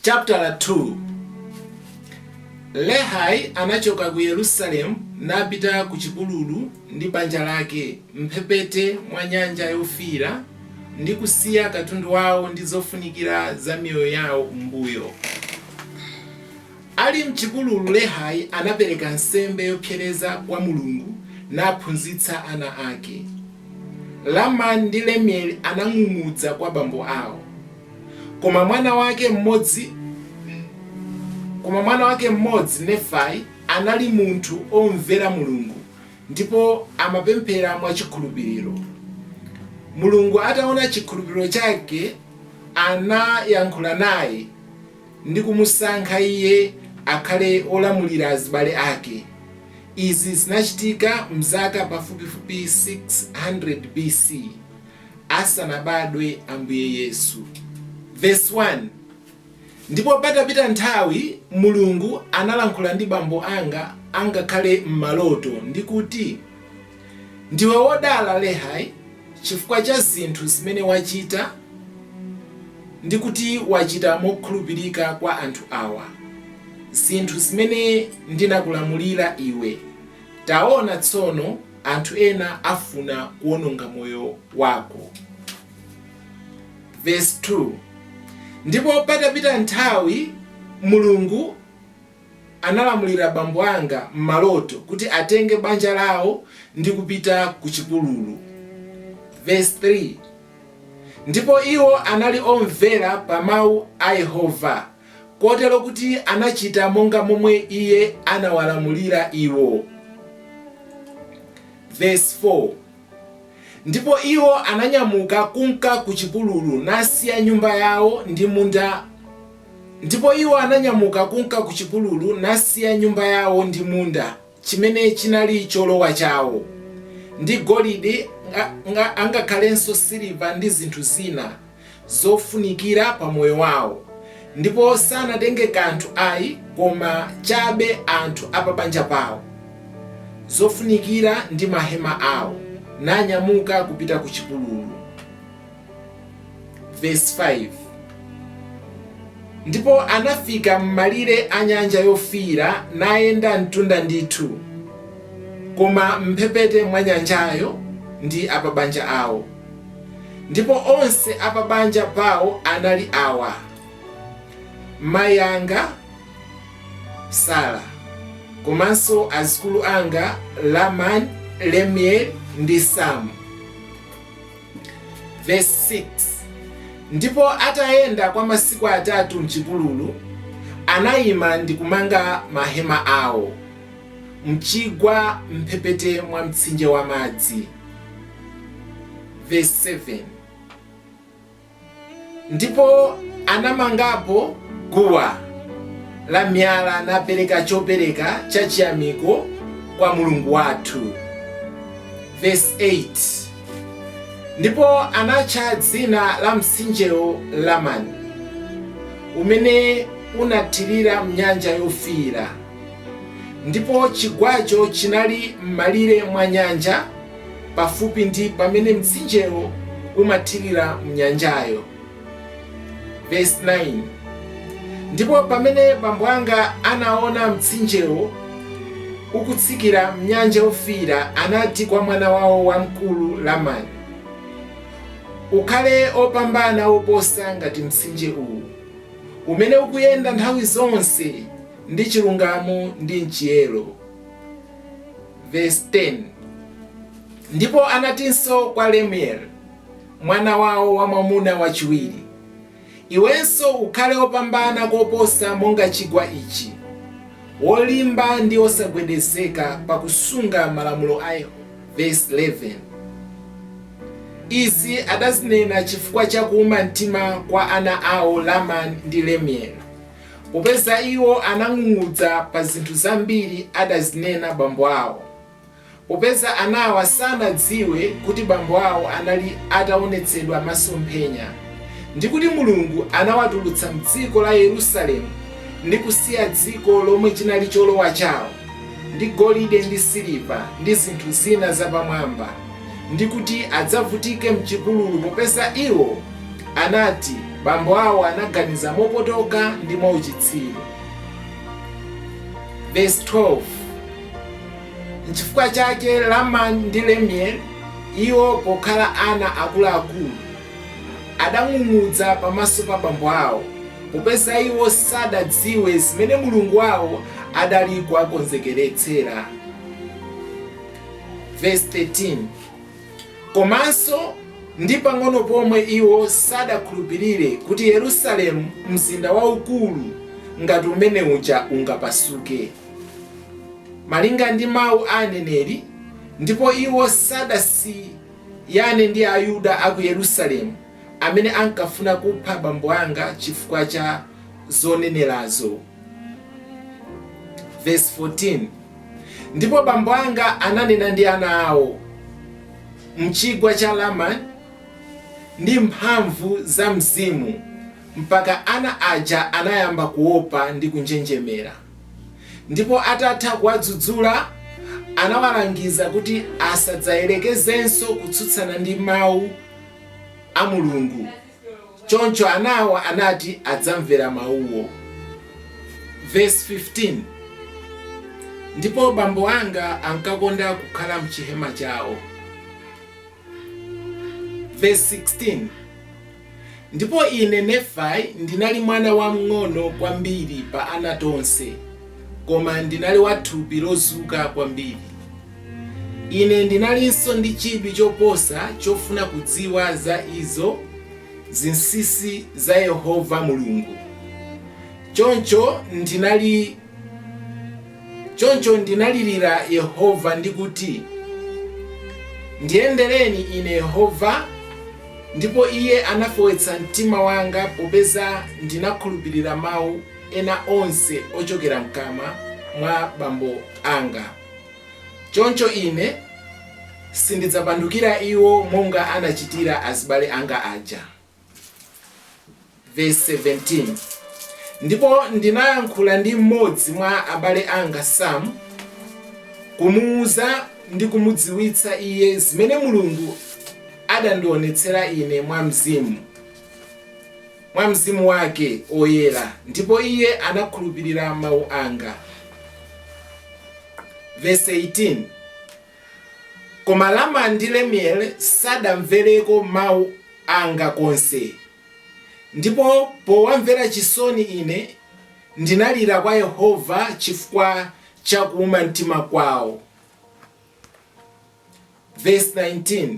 Chaputala 2 Lehi anachoka ku Yerusalemu napita ku chipululu ndi banja lake m'mphepete mwa Nyanja Yofiira ndi kusiya katundu wawo ndi zofunikira za miyoyo yawo m'mbuyo. Ali m'chipululu Lehi anapereka nsembe yopsereza kwa Mulungu naphunzitsa ana ake. Lamani ndi Lemueli anang'ung'udza kwa bambo awo. Koma mwana wake mmodzi Nefai anali munthu omvera Mulungu ndipo amapemphera mwa chikhulupiriro. Mulungu ataona chikhulupiriro chake anayankhula naye ndi kumusankha iye akhale olamulira azibale ake. Izi zinachitika mzaka pafupifupi 600 B.C. asanabadwe Ambuye Yesu. Vesi 1, Ndipo patapita nthawi Mulungu analankhula ndi bambo anga angakhale m'maloto, ndi kuti, Ndiwe wodala, Lehi, chifukwa cha zinthu zimene wachita, ndi kuti wachita mokhulupirika kwa anthu awa, zinthu zimene ndinakulamulira iwe, taona tsono, Anthu ena afuna kuononga moyo wako. Vesi 2, Ndipo patapita nthawi Mulungu analamulira bambo anga m'maloto kuti atenge banja lawo ndi kupita ku chipululu. Vesi 3, Ndipo iwo anali omvera pa mawu a Yehova kotero kuti anachita monga momwe iye anawalamulira iwo. Versi 4 Ndipo iwo ananyamuka kunka ku chipululu, nasiya nyumba yawo ndi munda Ndipo iwo ananyamuka kunka ku chipululu, nasiya nyumba yawo ndi munda. chimene chinali cholowa chawo, ndi golide, ngakhalenso siliva ndi zinthu zina zofunikira pa moyo wawo, ndipo sanatenge kanthu ayi koma chabe anthu a pabanja pawo, zofunikira ndi mahema awo, nanyamuka kupita kuchipululu. Verse 5 ndipo anafika m'malire a nyanja yofiira nayenda mtunda ndithu koma m'mphepete mwa nyanjayo ndi apabanja awo ndipo onse apabanja pawo anali awa mayi anga sara komanso azikulu anga lamani lemueli ndi samu Vesi 6, Ndipo atayenda kwa masiku atatu m'chipululu, anaima ndi kumanga mahema awo m'chigwa m'mphepete mwa mtsinje wa madzi. Vesi 7. Ndipo anamangapo guwa la miyala, napereka chopereka cha chiyamiko kwa Mulungu wathu. Vesi 8 Ndipo anatcha dzina la mtsinjewo Lamani, umene unathirira m'nyanja yofiira, ndipo chigwacho chinali m'malire mwa nyanja. pafupi ndi pamene mtsinjewo umathirira m'nyanjayo. Vesi 9 Ndipo pamene bambo anga anaona mtsinjewo ukutsikira m'nyanja yofiira, anati kwa mwana wawo wamkulu Lamani, Ukhale wopambana koposa ngati mtsinje uwu, umene ukuyenda nthawi zonse ndi chilungamo ndi m'chiyero. Vesi 10, Ndipo anatinso kwa Lemueli, mwana wawo wamwamuna wachiwiri, Iwenso ukhale wopambana koposa monga chigwa ichi, wolimba ndi wosagwedezeka pakusunga malamulo a Yehova. Vesi 11, Izi adazinena chifukwa cha kuuma mtima kwa ana awo Lamani ndi Lemueli. Popeza iwo anang'ung'udza pa zinthu zambiri adazinena bambo awo. Popeza anawa sanadziwe kuti bambo awo anali ataonetsedwa masomphenya, ndi kuti Mulungu anawatulutsa m'dziko la Yerusalemu ndi kusiya dziko lomwe chinali cholowa chawo, ndi golide ndi siliva ndi zinthu zina zapamwamba. ndi kuti adzavutike m'chipululu, popeza iwo anati bambo awo anaganiza mopotoka ndi mwauchitsiru. Vesi 12, Nchifukwa chake Lamani ndi Lemueli, iwo pokhala ana akuluakulu, adang'ung'udza pamaso pa bambo awo, popeza iwo sadadziwe zimene Mulungu wawo adali kuwakonzekeretsera. Vesi 13 komanso ndi pang'ono pomwe iwo sadakhulupirire kuti Yerusalemu mzinda waukulu ngati umene uja ungapasuke malinga ndi mawu a aneneri ndipo iwo sadasiyane ndi ayuda a ku Yerusalemu amene ankafuna kupha bambo anga chifukwa cha zonenerazo. Vesi 14 Ndipo bambo anga ananena ndi ana awo, Mchigwa cha Laman, ndi mphamvu za Mzimu, mpaka ana aja anayamba kuopa ndi kunjenjemera. Ndipo atatha kuwadzudzula, anawalangiza kuti asadzayerekezenso kutsutsana ndi Mawu a Mulungu. Choncho anawo anati adzamvera mawuwo. Vesi 15, Ndipo bambo anga ankakonda kukhala m'chihema chawo. Vesi 16, Ndipo ine, Nefai, ndinali mwana wamng'ono kwambiri pa ana tonse, koma ndinali wa thupi lozuka kwambiri. Ine ndinalinso ndi chidwi choposa chofuna kudziwa za izo zinsinsi za Yehova Mulungu. Choncho ndinalirira Yehova ndi kuti, Ndiyendereni ine Yehova, ndipo Iye anafewetsa mtima wanga popeza ndinakhulupirira mawu ena onse ochokera m'kamwa mwa bambo anga. Choncho ine sindidzapandukira iwo monga anachitira azibale anga aja. Vesi 17 Ndipo ndinayankhula ndi mmodzi mwa abale anga Sam, kumuuza ndi kumudziwitsa iye zimene Mulungu adandionetsera ine mwa Mzimu. mwa Mzimu Wake Woyera, ndipo iye anakhulupirira mawu anga. Vesi 18, Koma Laman ndi Lemuel sadamvereko mawu anga konse, ndipo powamvera chisoni ine ndinalira kwa Yehova chifukwa cha kuuma mtima kwawo. Vesi 19.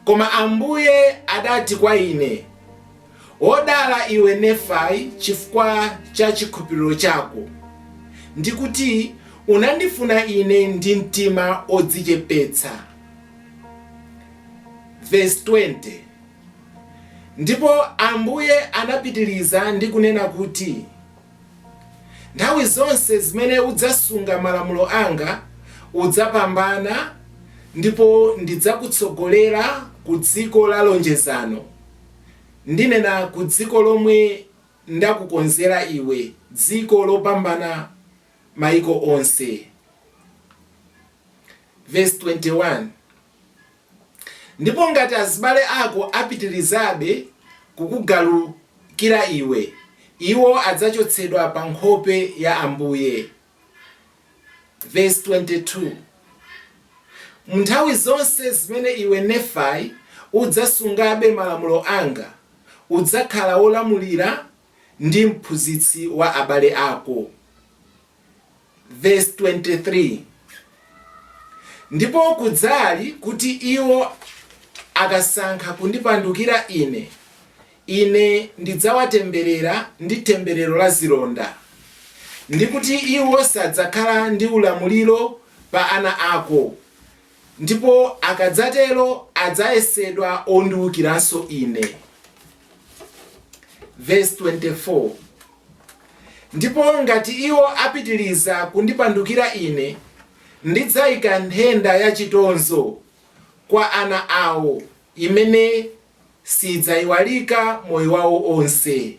Koma Ambuye adati kwa ine, Wodala iwe Nefai chifukwa cha chikhulupiliro chako, ndi kuti unandifuna ine ndi mtima odzichepetsa. Vesi 20, Ndipo Ambuye anapitiliza ndi kunena kuti. Nthawi zonse zimene udzasunga malamulo anga, udzapambana ndipo ndidzakutsogolera ku dziko la lonjezano, ndinena ku dziko lomwe ndakukonzera iwe, dziko lopambana maiko onse. Vesi 21. Ndipo ngati azibale ako apitirizabe kukugalukira iwe, iwo adzachotsedwa pa nkhope ya Ambuye. Mu nthawi zonse zimene iwe, Nefai, udzasungabe malamulo anga, udzakhala wolamulira ndi mphunzitsi wa abale ako. Ndipo kudzali, kuti iwo akasankha kundipandukira ine, ine ndidzawatemberera ndi themberero la zilonda, ndi kuti iwo sadzakhala ndi ulamuliro pa ana ako, Ndipo akadzatero adzayesedwa ondiukiranso ine. Ndipo ngati iwo apitiriza kundipandukira ine, ndidzaika nthenda ya chitonzo kwa ana awo, imene siidzaiwalika moyo wawo onse.